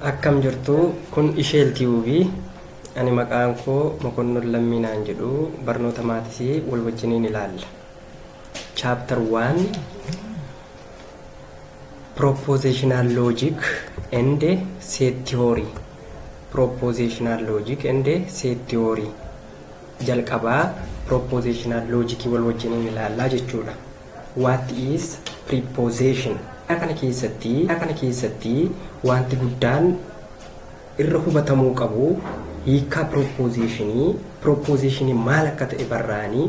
Akkam jirtu kun isheel tube ani maqaan koo mokonnon lammii naan jedhu barnoota maatisi wal wajjiniin ilaalla chapter 1 propositional logic and set theory propositional logic and set theory jalqabaa propositional logic wal wajjiniin ilaallaa jechuudha What is prepossession? a kana keessatti a kana keessatti waanti guddaan irra hubatamuu qabu hiikkaa pirooppoozeshinii pirooppoozeshinii maal akka ta'e barraa'anii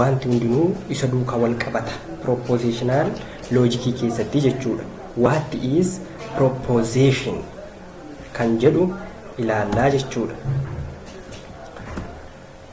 waanti hundinuu isa duukaa wal qabata pirooppoozeshinaal loojikii keessatti jechuudha. What is proposition kan jedhu ilaallaa jechuudha.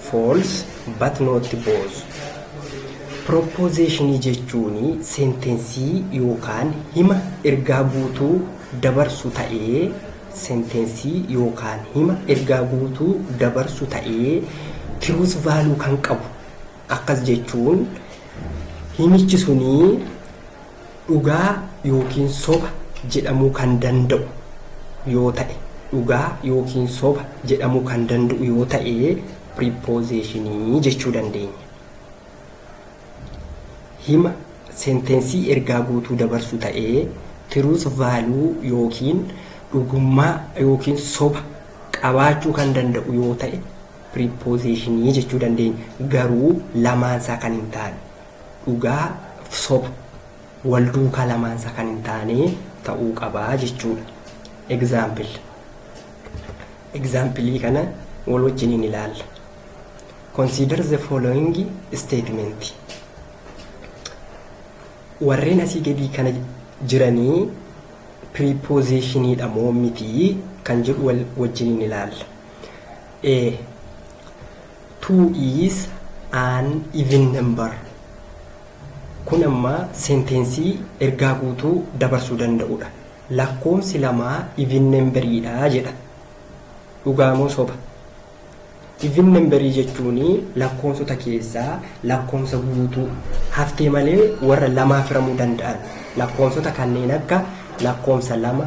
False but not both. Pirooppozeeshinii jechuun seentensii yookaan hima ergaa guutuu dabarsu ta'ee seentensii yookaan hima ergaa guutuu dabarsu ta'ee tiruus vaaluu kan qabu akkas jechuun himichi sunii dhugaa yookiin soba jedhamuu kan danda'u yoo ta'e dhugaa yookiin soba jedhamuu kan danda'u yoo ta'e piriipoozeeshinii jechuu dandeenya. Hima seentensii ergaa guutuu dabarsu ta'ee tiruus vaaluu yookiin dhugummaa yookiin soba qabaachuu kan danda'u yoo ta'e piriipoozeeshinii jechuu dandeenya. Garuu lamaansaa kan hin taane dhugaa fi soba wal duukaa lamaan isaa kan hin taane ta'uu qaba jechuudha. Example. Example kana wal wajjiniin ilaalla. Consider the following statement. Warreen asii gadii kana jiranii prepositionidha moo miti kan jedhu wal wajjiniin ilaalla. A. Two is an even number. Kun amma senteensii ergaa guutuu dabarsuu danda'udha. Lakkoomsi lamaa even nemberiidha jedha. Dhugaa moo soba? Even nemberii jechuun lakkoomsota keessaa lakkoomsa guutuu haftee malee warra lamaa firamuu danda'an lakkoomsota kanneen akka lakkoomsa lama,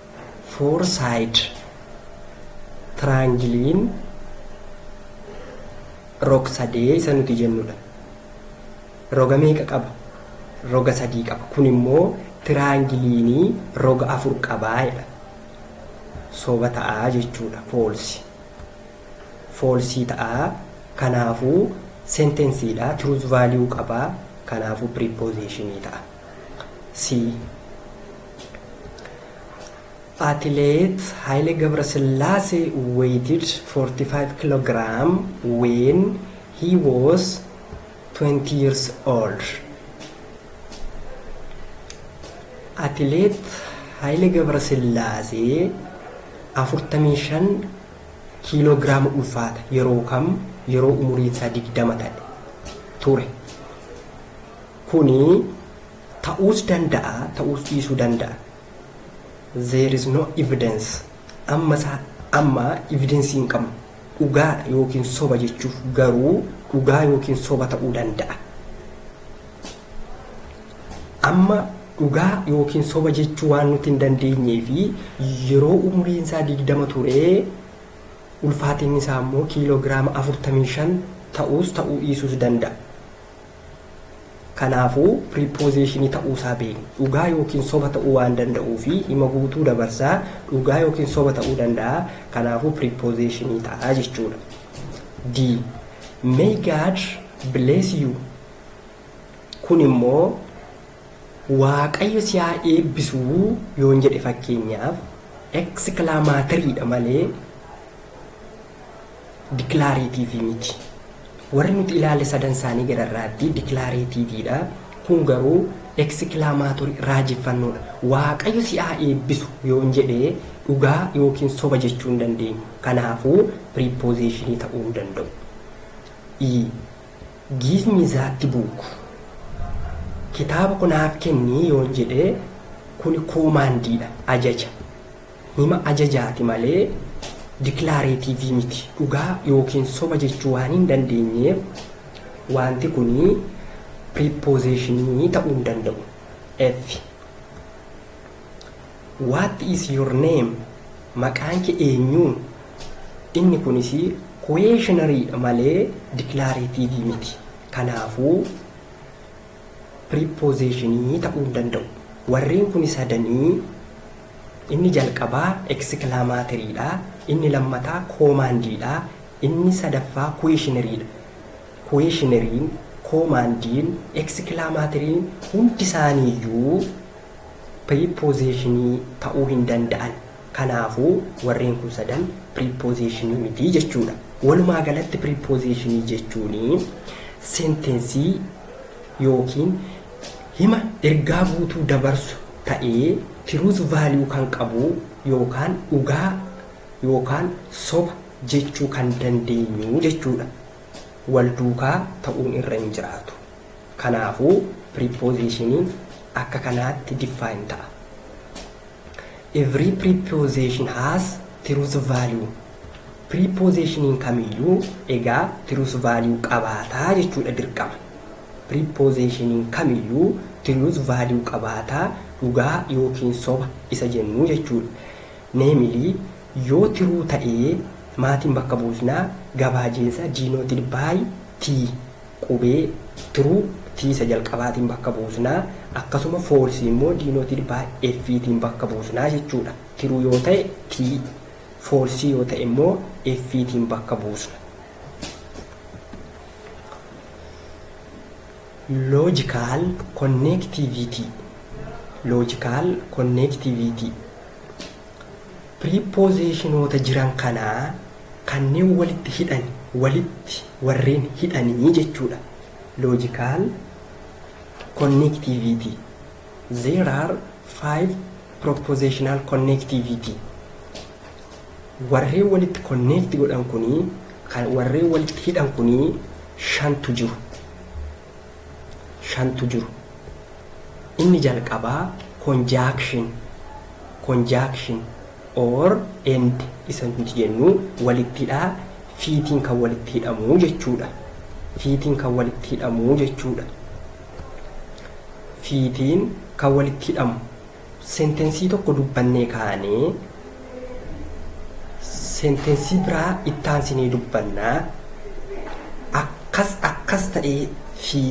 Four-side triangle'n rog-sadee isa nuti jennudha. Roga meeqa qaba? Roga sadii qaba. Kun immoo tiraangiliin roga afur qabaa jedha. Soba ta'aa jechuudha. Foolsi. Foolsii ta'aa. Kanaafuu sentensiidha. Truth value qabaa. Kanaafuu prepositionii ta'a. C. Atileet Haile Gabrasillaase weighted 45 kg when he was 20 years old. Atileet Haile Gabrasillaase 45 kiiloogiraama ulfaata yeroo kam yeroo umuriin isaa 20 ta'e ture. Kuni Ta'uus danda'a ta'uus dhiisuu danda'a. There is no evidence. Amma isaa amma evidence hin qabnu. Dhugaadha yookiin soba jechuuf garuu dhugaa yookiin soba ta'uu danda'a. Amma dhugaa yookiin soba jechuu waan nuti hin dandeenyee fi yeroo umuriin isaa digdama turee ulfaatinni isaa immoo kiiloogiraama afurtamii shan ta'uus ta'uu dhiisuus danda'a. Kanaafuu, pirippoziishinii ta'uu isaa beekna. Dhugaa ykn soba ta'uu waan danda'uufi hima guutuu dabarsa, dhugaa ykn soba ta'uu danda'a, kanaafuu pirippoziishinii ta'a jechuudha. D. May God bless you Kun immoo Waaqayyo si haa eebbisu yoon jedhe fakkeenyaaf, eksikilaamatiriidha malee dikilareetiivii miti. Warri nuti ilaalle sadan isaanii gararraattii dikilareetiiviidha. Kun garuu eksikilaamaatorii raajeffannoodha. Waaqayyo si haa eebbisu yoon jedhe dhugaa yookiin soba jechuu hin dandeenyu. Kanaafuu piriipoozeeshinii ta'uu hin danda'u. i. Give me that book. Kitaaba kanaaf kenni yoon jedhe kuni koomaandiidha, ajaja. Hima ajajaati malee diklaareetiivii miti. Dhugaa ykn soba jechuu waan hin dandeenyeef waanti kun piriippoozeeshinii ta'uu hin danda'u. F. What is your name? Maqaan kee eenyu? Inni kunis kuweeshinariidha malee diklaareetiivii miti. Kanaafuu piriippoozeeshinii ta'uu hin danda'u. Warreen kun sadanii Inni jalqabaa eksikilamaatirii dha, inni lammataa koomaandii dha, inni sadaffaa kuweeshinarii dha. Kuweeshinariin, koomaandiin, eksikilamaatiriin hundi isaanii iyyuu piriippozeeshinii ta'uu hin danda'an. Kanaafuu, warreen kun sadan piriippozeeshinii miti jechuu dha. Walumaa galatti piriippozeeshinii jechuun seentensii ykn hima ergaa guutuu dabarsu ta'ee truth value kan qabuu yookaan dhugaa yookaan soba jechuu kan dandeenyu jechuudha. Wal duukaa ta'uun irra hin jiraatu. Kanaafuu prepositionin akka kanaatti define ta'a. Every preposition has truth value. Piriippoozeshiniin kamiyyuu egaa truth value qabaata jechuudha dirqama. Piriippoozeshiniin kamiyyuu truth value qabaata, dhugaa ykn soba isa jennu jechuudha. Namely, yoo true ta'e maatiin bakka buusna, gabaajiinsa denoted by T, qubee true T isa jalqabaatiin bakka buusna, akkasuma false immoo denoted by F tiin bakka buusna jechuudha. True yoo ta'e T, Foolsii yoo ta'e immoo F tiin bakka buusna. Logical connectivity Logical connectivity Piriippoozeshinoota jiran kanaa kanneen walitti hidhan walitti warreen hidhanii jechuudha. Logical connectivity There are five propositional connectivity. Warreen walitti connect godhan kunii, kan warreen walitti hidhan kunii shantu jiru. Shantu jiru. Inni jalqabaa conjunction, conjunction or and isa nuti jennu walitti hidhaa fiitiin kan walitti hidhamu jechuudha. Fiitiin kan walitti hidhamu jechuudha. fi tiin kan walitti hidhamu sentensii tokko dubbannee kaanee sentensii biraa ittaansinee dubbannaa akkas akkas ta'ee fi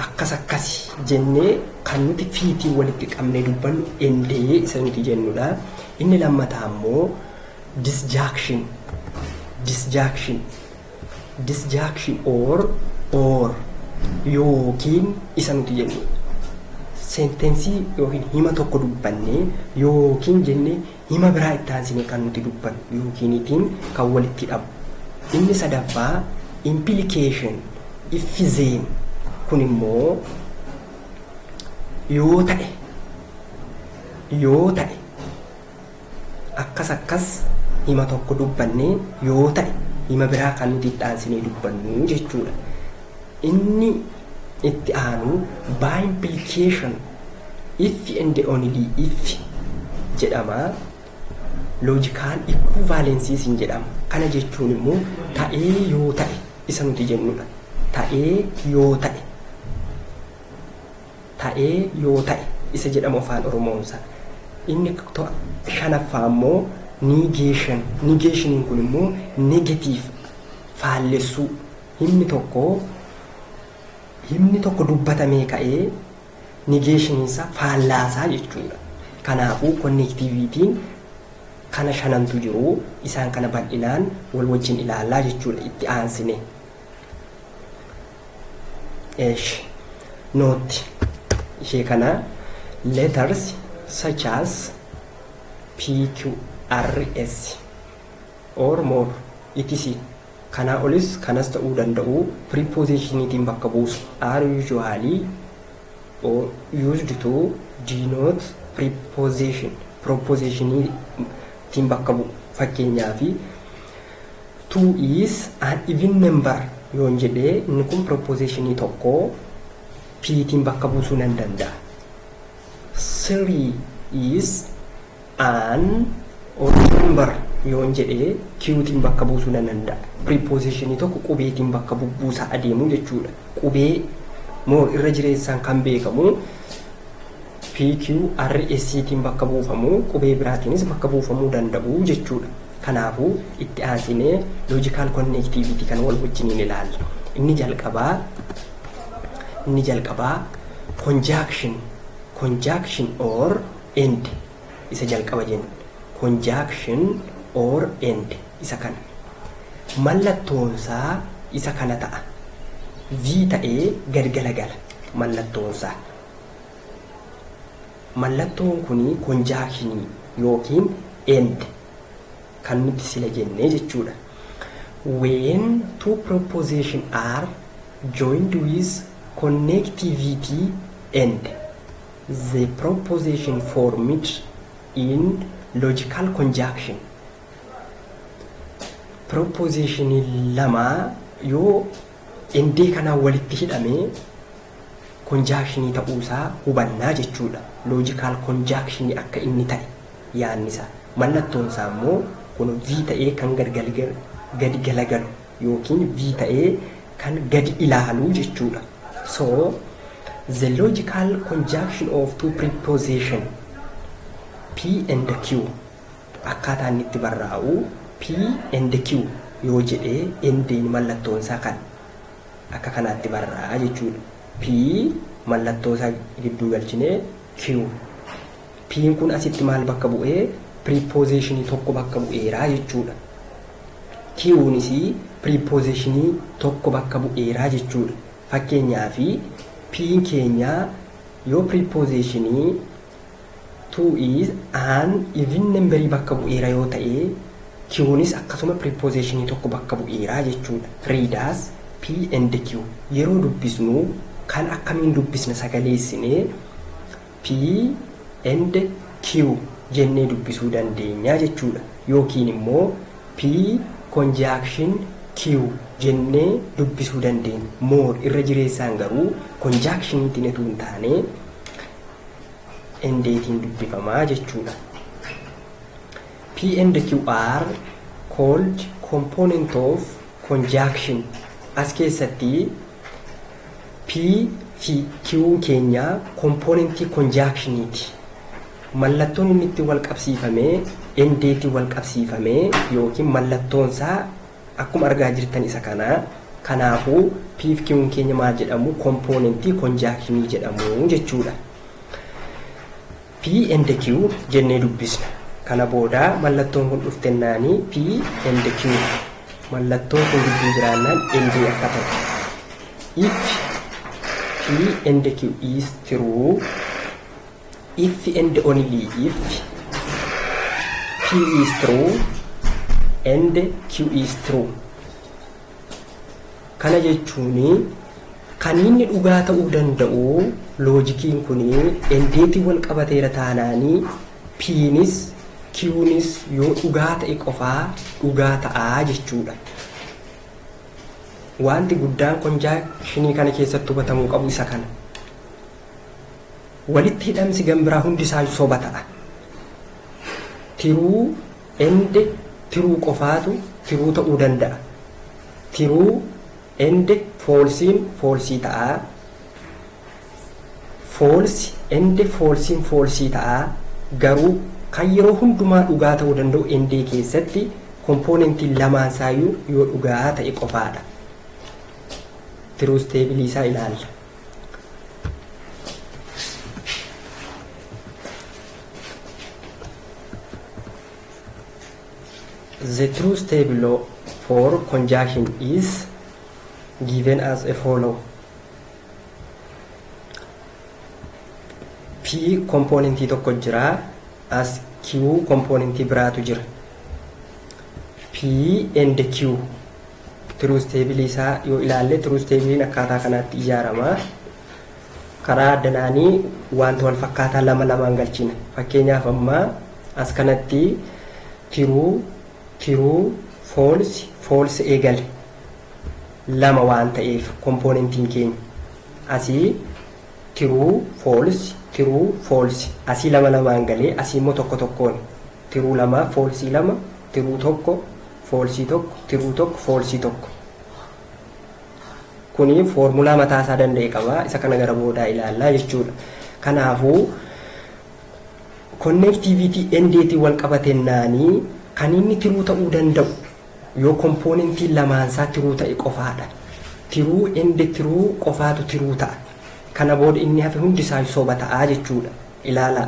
akkas akkasi jennee kan nuti fiitiin walitti qabnee dubbannu endee isa nuti jennudha. Inni lammataa immoo disjaakshin disjaakshin disjunction or or yookiin isa nuti jennu seentensii yookiin hima tokko dubbannee yookiin jennee hima biraa itti aansinee kan nuti dubbannu yookiinitiin kan walitti hidhamu. Inni sadaffaa implication iffizeen kun immoo yoo ta'e yoo ta'e Akkas akkas hima tokko dubbannee yoo ta'e hima biraa kan nuti itti aansinee dubbannu jechuudha. Inni itti aanu by implication if and only if jedhama. Loojikaal equivalencies hin jedhama. Kana jechuun immoo ta'ee yoo ta'e isa nuti jennudha. Ta'ee yoo ta'e. ta'ee yoo ta'e isa jedhamu Afaan Oromoon isaa. Inni to- shanaffaa immoo negation. Negationiin kun immoo negative faallessuu. Himni tokko himni tokko dubbatamee ka'ee negationiin isaa faallaasaa jechuudha. Kanaafuu connectivity'n kana shanantu jiru isaan kana bal'inaan wal wajjin ilaallaa jechuudha itti aansine. Eesh. Nootti. Ishee kana letters such as PQRS or more etc. Kanaa olis kanas ta'uu danda'u preposition'itiin bakka buusu are usually or used to denote preposition proposition'itiin bakka bu'u fakkeenyaaf 2 is an even number yoon jedhe inni kun piropozeeshinii tokko P tiin bakka buusuu nan danda'a. 3 is an odd number yoon jedhe Q tiin bakka buusuu nan danda'a. Piropozeeshinii tokko qubeetiin bakka bubbuusaa adeemuu jechuudha. Qubee moo irra jireessaan kan beekamu PQRS tiin bakka buufamu, qubee biraatiinis bakka buufamuu danda'u jechuu dha. Kanaafuu, itti aansinee logical connectivity kana wal wajjiniin ilaalla. Inni jalqabaa inni jalqabaa conjunction conjunction or and isa jalqaba jenna. Conjunction or and isa kana. Mallattoonsaa isa kana ta'a. V ta'ee gad galagala mallattoonsaa. Mallattoon kun konjaakshinii ykn and kan nuti sila jenne jechuudha. When two proposition are joined with connectivity and the proposition formed in logical conjunction proposition lama yoo endee kanaan walitti hidhame konjaakshinii ta'uu isaa hubanna jechuu dha. Loojikaal konjaakshinii akka inni ta'e yaadni isaa. Mallattoon isaa immoo kun V ta'ee kan gadi galagalu ykn V ta'ee kan gadi ilaalu jechuu dha. So, the logical conjunction of two preposition P and Q akkaataa inni itti barraa'u P and Q yoo jedhee endeen mallattoon isaa kan akka kanaatti barra jechuudha. P mallattoosaa gidduu galchinee Q. P'n kun asitti maal bakka bu'ee piriipoozeeshinii tokko bakka bu'eeraa jechuudha. Q'nis piriipoozeeshinii tokko bakka bu'eeraa jechuudha. Fakkeenyaaf P'n keenyaa yoo piriipoozeeshinii Tuu is an even namberii bakka bu'eera yoo ta'e, Q'nis akkasuma piripoozeshinii tokko bakka bu'eera jechuudha. Read as, P and Q yeroo dubbisnu kan akkamiin dubbisna sagaleessinee P and Q jennee dubbisuu dandeenya jechuudha. Yookiin immoo P conjunction Q jennee dubbisuu dandeenya. More irra jireessaan garuu konjaakshinii tiin utuu hin taane and tiin dubbifamaa jechuudha. P and Q are called component of conjunction. As keessatti P fi Q'n keenya kompoonentii konjaakshiiniiti. Mallattoon inni itti wal qabsiifamee, endeetii wal qabsiifamee yookiin mallattoonsaa Akkuma argaa jirtan isa kana. Kanaafuu P fi Q'n keenya maal jedhamu? Kompoonentii konjaakshinii jedhamu jechuudha. P and Q jennee dubbisna. Kana booda mallattoon kun dhuftennaani P and Q mallattoon kun gidduu jiraannaan NJ akka ta'u. If P and Q is true If and only if P is true and Q is true. Kana jechuun kan inni dhugaa ta'uu danda'u loojikiin kun endeetiin wal qabateera taanaanii P'nis Q'nis yoo dhugaa ta'e qofaa dhugaa ta'aa jechuudha. Wanti guddaan konjaakshinii kana keessatti hubatamuu qabu isa kana. Walitti hidhamsi gambiraa hundi isaa soba ta'a. Tiruu ende tiruu qofaatu tiruu ta'uu danda'a. Tiruu ende foolsiin foolsii ta'a. Foolsi ende foolsiin foolsii ta'a. Garuu kan yeroo hundumaa dhugaa ta'uu danda'u endee keessatti kompoonentiin lamaan isaayyuu yoo dhugaa ta'e qofaadha. Tiruu isteebilii isaa ilaalla. The true step law for conjunction is given as a follow. P kompoonentii tokko jira. As Q kompoonentii biraatu jira. P and Q Tiruus teebilii isaa yoo ilaalle tiruus teebiliin akkaataa kanaatti ijaarama. Karaa addanaanii wanta wal fakkaataa lama lamaan galchina. Fakkeenyaaf amma as kanatti tiruu tiruu foolsi foolsi eegale lama waan ta'eef kompoonentiin keenya asii tiruu foolsi tiruu foolsi asii lama lamaan galee asii immoo tokko tokkoon tiruu lama foolsii lama tiruu tokko foolsii tokko tiruu tokko foolsii tokko kuni foormulaa mataa isaa danda'e qaba isa kana gara boodaa ilaallaa jechuudha kanaafuu konneektiiviitii endeetiin wal qabatennaanii kan inni tiruu ta'uu danda'u yoo kompoonentiin lamaansaa tiruu ta'e qofaadha tiruu ende tiruu qofaatu tiruu ta'a kana booda inni hafe hundi isaa soba ta'aa jechuudha ilaalaa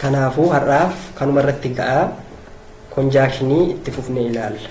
Kanaafuu har'aaf kanuma irratti ga'a konjaakshinii itti fufnee ilaalla.